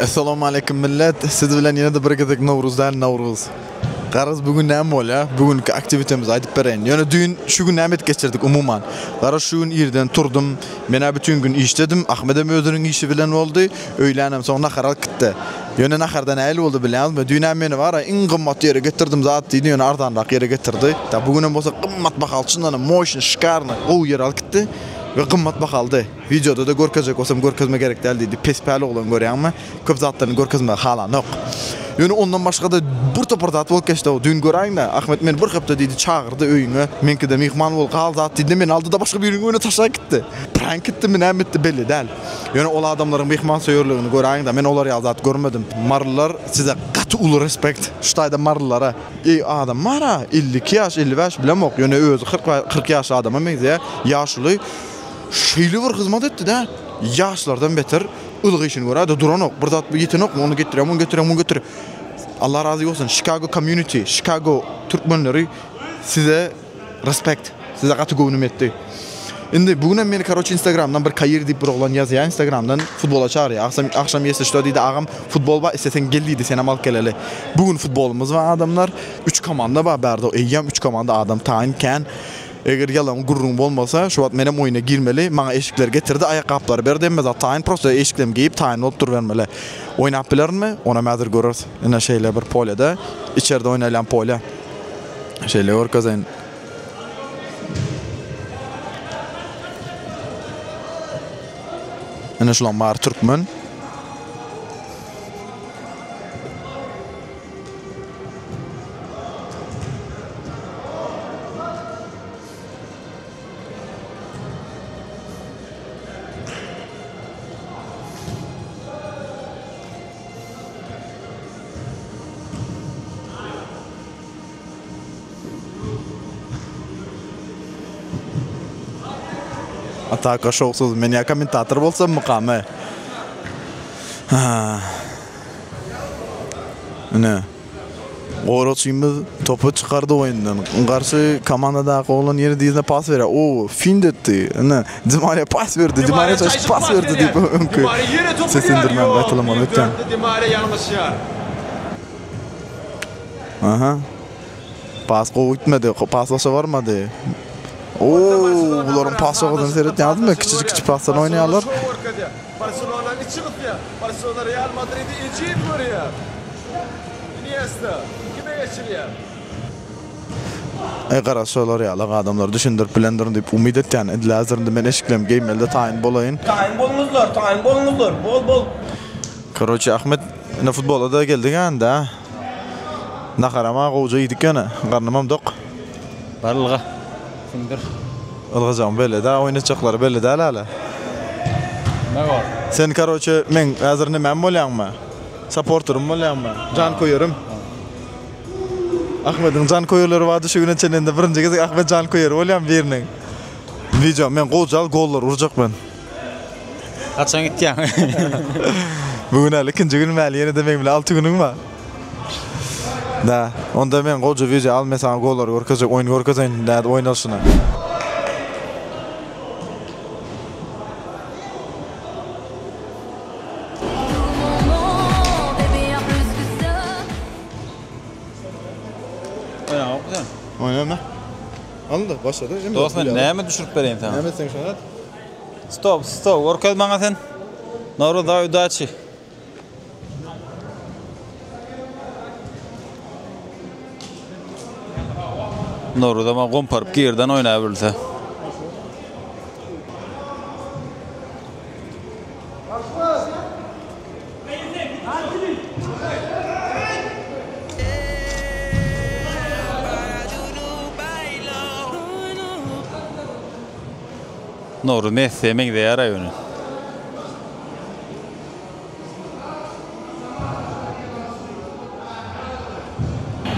Essalamu aleýkum millet. Siz bilen ýene-de bir gezek Nowruz däl, Nawruz. Garaz bu gün näme bolýa? Bu günki aktiwitemizi aýdyp bereýin. Ýöne düýn, şu gün näme edip geçirdik umuman? Garaz şu gün irden turdym. Men-ä bütin gün işdedim. Ahmedem özüniň işi bilen boldy. Öýlänem soň nahar alyp gitdi. Ýöne naharda nähili boldy bilýäňizmi? Düýn-ä meni bara iň gymmat ýere getirdim zat diýdi, ýöne arzanrak ýere getirdi. Bu günem bolsa gymmat bahaly, çyndanam moşny, şikarny, gowy ýere alyp gitdi we gymmat bahalydy. Wideoda-da görkezjek bolsam görkezme gerek däl diýdi. Pes-päl oglan görýäňmi? Köp zatlaryny görkezmegi halanok. Ýöne ondan başga-da bir topar zat bolup geçdi-ow. Düýn göräýiň-le, Ahmet meni bir hepde diýdi çagyrdy öýüňe. Meňkide myhman bol, gal zat diýdi-de meni aldy-da başga biriniň öýüne taşlap gitdi. Prank etdimi, näme etdi belli däl. Ýöne ol adamlaryň myhmansöýerligini göräýiň-de, men olar ýaly zat görmedim. Marylylar size gaty uly respekt. Şu taýda marylylara. Eý adam bar-a, elli iki ýaş, elli bäş bilemok, ýöne özi kyrk kyrk ýaşly adama meňzeýär. Ýaşuly. Şeýle bir hyzmat etdi-dä, ýaşlardan beter ylgy işini görä-de duranok. Bir zat ýetenokmy, ony getirýär, muny getirýär, muny getirýär. Allah razy bolsun, Chicago community, Chicago türkmenleri size respect, size gaty göwnüm ýetdi. Indi bu günem meni karoçe instagramdan bir Kair diýip bir oglan ýazýar instagramdan futbola çagyrýar. Agsam agşam ýesi şda diýdi, agam futbol bar, isleseň gel diýdi, senem alyp geleli. Bu gün futbolymyz bar adamlar. Üç komanda bar bärde, eýýäm üç komanda adam taýyn kän. Eger ýalan gürrüň bolmasa, şu wagt menem oýna girmeli, maňa eşikleri getirdi, aýakgaplary berdi, hemme zat taýyn, prosto eşiklem geýip taýyn bolup durubermeli. Oýnap bilerinmi, onam häzir göreris. Ine, şeýle bir polýada, içerde oýnalýan polýa. Şeýle görkezeýin. Ine, şulaň bary türkmen. Ataka şowsuz. Men ya kommentator bolsam mukamy. Ine, goragçymyz topy çykardy oýundan. Garşy komandadaky oglan ýeri dyzyna pas berýär. O, fint etdi. Ine, Di Mariýa pas berdi. Di Mariýa çalyşyp pas berdi diýip öňki seslendirmäni gaýtalamaly öýtýän. Ýok, Di Mariýa ýalňyşýar. Aha. Pas gowy gitmedi. Pas başa barmady. O, bularyň pas çykyşyna seretýäňizmi? Kiçijik-kiçijik pasdan oýnaýarlar. Barselona içi gysýar. Barselona Real Madridi ejiz görýär. Iniesta kime geçirýär? Aý garaz şolar ýalak adamlar düşündirip bilendirin diýip umyt etýän. Edil häzir indi men eşiklerimi geýmelide taýyn bolaýyn. Taýyn bolňuzlar, taýyn bolňuzlar. Bol, bol. Koroçe Ahmet ine futbola-da geldik-ä indi-ä. Naharam-a gowja iýdik ýöne, garnymam dok. Bar ylga, siňdir. Ylgajagym belli däl, oýun etjekleri belli däl hälä. Näme bar? Sen karoçe meň häzir nämäm bolýaňmy? Saporterym bolýaňmy? Janköýerim. Ahmediň janköýerleri bardy şu güne çenli indi birinji gezek Ahmet janköýeri bolýan biriniň. Wideo men gowjal gollar urjak men. Haçan gitýäň? Bu gün al ikinji günüm äli ýenede meň bilen alty günüň bar. Da, onda men goja wideo al men saňa gollary görkezjek oýny görkezeýin nädip oýnalyşyny. Oýnaňokmy sen? Oýnama. Alyndy, başlady. Dost men näme düşürip bereýin saňa? Näme etseň şony et. Stop, stop, görkez maňa sen. Noruz daý udaçi. Noruz ama gomparyp girden oýnaýa bilse. Nowruz Messi'e meňzeýär raýony.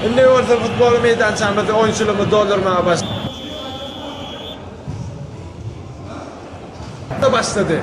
Indi bolsa futbol meýdançamyzda oýunçylygymyzy doldurmaga başlaýarys. Atla başlady.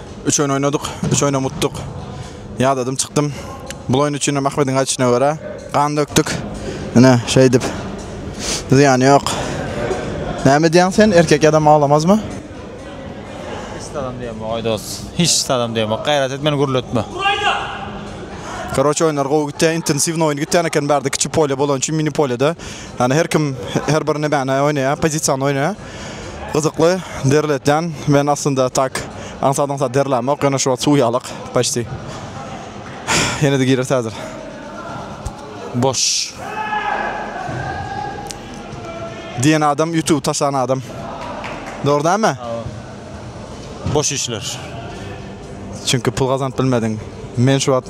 Üç oýun oýnadyk, üç oýnam utduk. Ýadadym, çykdym. Bu oýun üçin hem Ahmediň aýdyşyna görä, gan dökdük. Ine, şeýdip. Zyýany ýok. Näme diýýäň sen, erkek ýadam aglamazmy? Hiç zadam diýemok, aý dost. Hiç zadam diýemok. Gaýrat et, meni gürletme. Karoçe oýunlar gowy gitýär, intensiwny oýun gitýän eken bärde kiçi polýa bolany üçin mini polýada. Ýani her kim her bir nämäni oýnaýar, pozisiýany oýnaýar. Gyzykly derletýän men aslynda tak aňsat aňsat derlämok ýöne şu wagt suw ýalak paçti ýenede girer täzir boş diýen adam ýutuby taşlan adam dogry näme boş işler çünki pul gazanyp bilmediň men şu wagt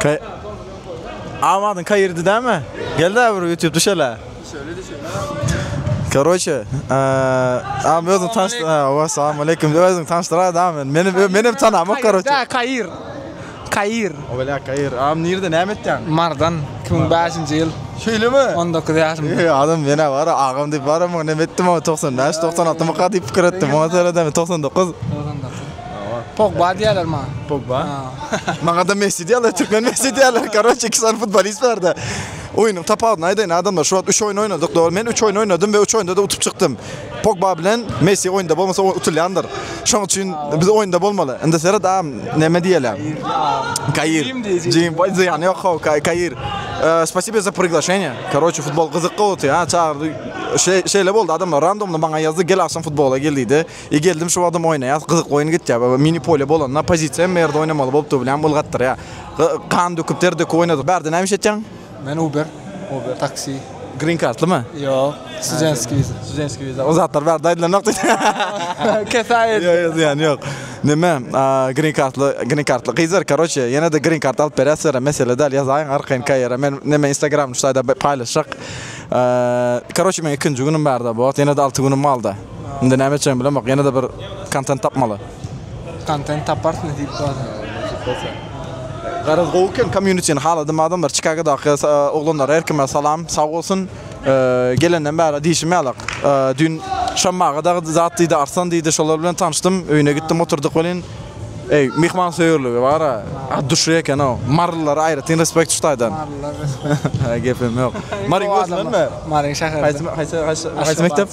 Kay Amadyň kayirdi dämi? Gel de bir YouTube düşele. Düşele düşele. Karoçe, am özüm tanşdyr. Wa salam aleyküm. Özüm tanşdyr adam men. Meni meni hem tanama karoçe. Da kayir. Kayir. O bela kayir. Am nirde näme etýän? Mardan 2005-nji ýyl. Şeýle mi? 19 ýaşym. Eý adam meni bar agam diýip bar ama näme etdim o 95 96 myka diýip pikir etdim. Oňa seredem 99. 99. Pogba diýerler maňa. Pogba. Maňa da Messi diýerler, türkmen Messi diýerler. Karoç iki sany futbolist barda. Oýnuň tapawudyny aýdaýyn adamlar, şu wagt 3 oýun oýnadyk dogry. Men 3 oýun oýnadym we 3 oýunda-da utup çykdym. Pogba bilen Messi oýunda bolmasa utulýandyr. Şoň üçin biz oýunda bolmaly. Indi seret a näme diýýäler. Kair. Jim boý zyýany ýok how Kair. Spasibo za priglasheniýe. Karoç futbol gyzykly otýa çagyrdy. Şeýle boldy adamlar randomly maňa ýazdy gel agşam futbola gel diýdi. E geldim şu wagtam oýnaýas gyzyk oýun gitýä we mini polýa bolanda pozisiýa hemme ýerde oýnamaly bolup dur bilýän ylgatdyrýa. Gan döküp ter döküp oýnadyk. Bärde näme iş etýäň? Men uber uber taksi. Green kartlymy? Ýok studentskiý wiza. Studentskiý wiza. O zatlar bärde aýdylanok diýip. Kesaýy. Ýok ýok zyýany ýok. Neme green kartly green kartly gyzlar karoçe ýenede green kart alyp berýäs sizlere mesele däl ýazaýyň arkaýyn kaýera men neme instagramda şu taýda paýlaşjak. Karoçe meň ikinji günüm bärde bu wagt ýenede alty günüm galdy. Indi näme etjegimi bilemok, ýene-de bir kontent tapmaly. Kontent taparsyň nesip bolsa. Nesip bolsa. Garaz gowy eken kommunitini haladym adamlar Çikagodaky oglanlar her kime salam sag bolsun gelenden bäri diýşim ýalak düýn Şamma aga dagy zat diýdi Arslan diýdi şolar bilen tanyşdym öýüne gitdim oturdyk welin eý myhmansöýerligi bara at duşy ekenow marylylara aýratyn respekt şu taýdan Marylylara respekt gepem ýok Maryň özünden mi Maryň şäherinden haýsy haýsy mekdep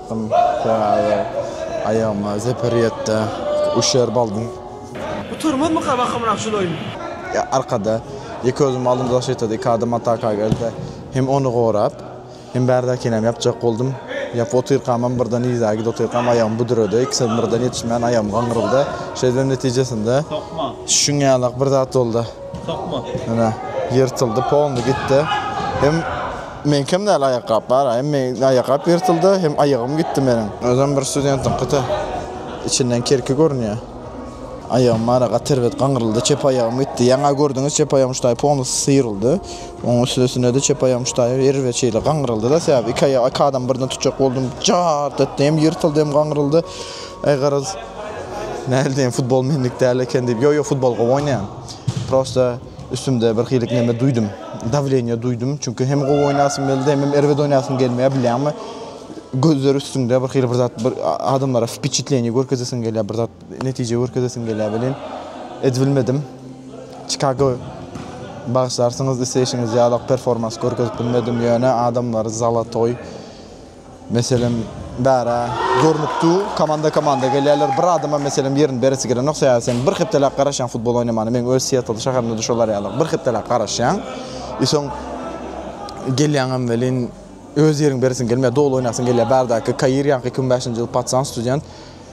Çykdym köge, aýagyma zeper ýetdi, üşer baldym. Gutarmazmyka bakamrak şul oýun? Arkada, ýeke özüm aldym zaşitda, iki adam ataka geldi. Hem ony gorap, hem bärdäkinäm ýapjak boldum. Ýapyp otyrkamam birden yza gidip otyrkam aýagym büdredi. Ikisem birden ýetişmän aýagym gaňyryldy. Şeýdibem netijesinde şuň ýalak bir zat boldy. Ýyrtyldy, polny gitdi. Hem. Meňkem däl aýakgap baraýym. Meň aýakgap ýyrtyldy hem aýagym gitdi meniň. Özem bir studentiňkita içinden kerki görünýär. Aýagym bara gaty erbet gaňyryldy, çep aýagym gitdi. Ýaňa gördüňiz çep aýagym şutaý polnusy syýryldy. Oň üstesine-de çep aýagym şutaý erbet şeýle gaňyryldy-da sebäbi iki aýagy iki adam birden tutjak boldum. Jart etdi hem ýyrtyldy hem gaňyryldy. Aý garaz nähili diýen futbol menlik däl eken diýip. Ýok-ýok futbol gowy oýnaýan. Prosta Üstümde bir hilik neme duýdum. Dawleniýe duýdum. Çünki hem gowy oýnasym geldi, hem erbet oýnasym gelmeýär, bilýäňmi? Gözler üstüňde bir hili bir zat bir adamlara wpiçitleniýe görkezesiň gelýär, bir zat netije görkezesiň gelýär welin, edibilmedim. Çikago bagyşlarsyňyz isleýşiňiz ýalak performans görkezip bilmedim, ýöne adamlar zala toý. Meselem, bärä görnükdi, komanda-komanda gelýärler. Bir adama, meselem, ýerini beresi gelenok, sebäbi sen bir hepdeläp garaşýaň futbol oýnamana. Meň öz Siettle şäherimde-de şol arýalyk. Bir hepdeläp garaşýaň. I soň gelýäňem welin, öz ýeriňi beresiň gelmeýär, doly oýnasyň gelýär. Bärdäki Kair ýaňky iki müň bäşinji ýyl patsan student.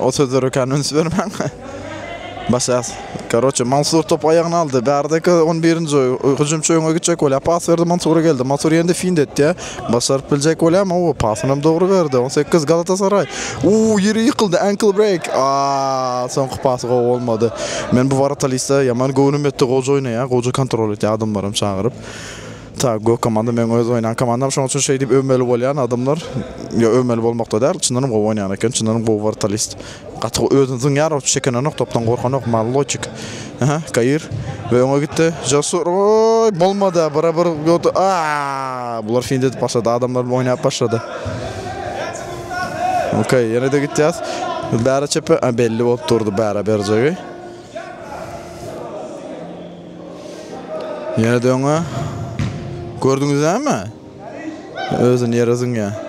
O sözlere kan üns bermäň. Başas. Karoçe Mansur top aýagyna aldy. Bärdeki 11-nji hüjümçi öňe gitjek bolýar. Pas berdi Mansura geldi. Mansur ýendi fint etdi. Başaryp biljek bolýarmy? O pasyny hem dogry berdi. 18 Galatasaray. Uuu, ýeri ýykyldy. Ankle break. Aaa, soňky pasy gowy bolmady. Men bu Waratalista ýaman göwnüm ýetdi. Gowy oýnaýar, gowy kontrol edýär adamlaram çagyryp. Ta gök komanda meň öz oýnan komandam. Şonuň üçin şeýdip öwmeli bolýan adamlar. Ýa öwmeli bolmakda däl, çyndanam gowy oýnaýan eken. Çyndanam gowy Waratalist. Gaty özüni zyňýar ol çekenonok topdan gorkanok mallojik Aha Kair we öňe gitdi Jasur oy bolmada bira bir gördü aa bular fint edip başlady adamlar bilen oýnap başlady Okey ýene-de gitýäs bära çepe a belli bolup durdy bära berjegi Ýene-de öňe gördüňizmi özüni ýere zyňýar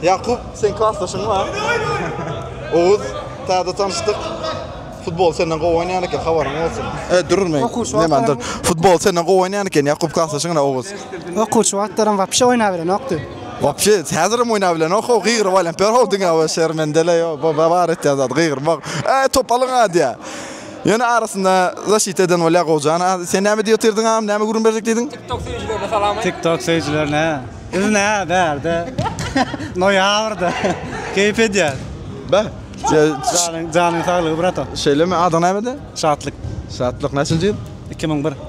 Ýakup, seň klasdaşyň bar. Oguz, täze tanyşdyk. Futbol senden gowy oýnaýan eken, habaryň bolsun. E, durur men. Näme, dur. Futbol senden gowy oýnaýan eken, Ýakup klasdaşyň ine, Oguz. Okuwçy wagtlarym wapşe oýnap bilenokdy. Wapşe, häzirem oýnap bilenok-ow, gygyryp alýan. Perhow diňe şermendele, ýo, bu bar etýän zady, gygyrmak. Äý, top alyň-a diýýär. Ýöne arasynda zaşit eden bolýar gowjana. Sen näme diýip otyrdyň agam, näme gürrüň berjek diýdiň? TikTok söýüjilerine salam aýt. TikTok söýüjilerine. Biz nä bärde noýabrda keýp edýäs. Beh. Janyň janyň saglygy bratom. Şeýlemi, adyň nämedi? Şatlyk. Şatlyk näçinji ýyl? Iki müň bir.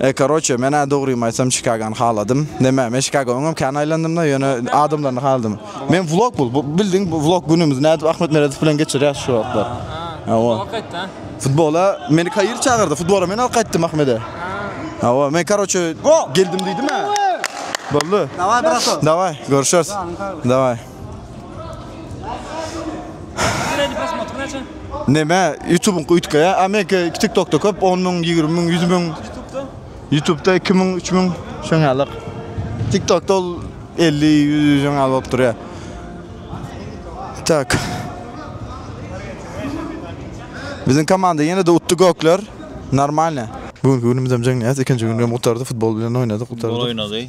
E karoçe men-ä dogrymy aýtsam Çikagany haladym. Näme, men Çikaga öňem kän aýlandym-da, ýöne adamlaryny haladym. Men vlog bul, bu bildiň vlog günümizi nädip Ahmet Meredow bilen geçirýäs şu wagtlar. Hawa. Futbola meni Kair çagyrdy, futbola men alyp gaýtdym Ahmede. Hawa, men karoçe geldim diýdim-ä. Boldy. Dawaý brato. Dawaý, görüşeris. Dawaý. Süreýdi prosmotr näçe? Neme ýutubyňky üýtgeýä a meňki tik tokda köp on müň ýigrimi müň ýüz müň Ýutubda? ýutubda iki müň üç müň şoň ýalyk tik tokda ol elli ýüz şoň ýaly bolup durýa tak biziň komanda ýene-de utdy gökler normalne. Bu günki günümizem jeňňäs ikinji günüm gutardy futbol bilen oýnadyk gutardyk. Futbol oýnady.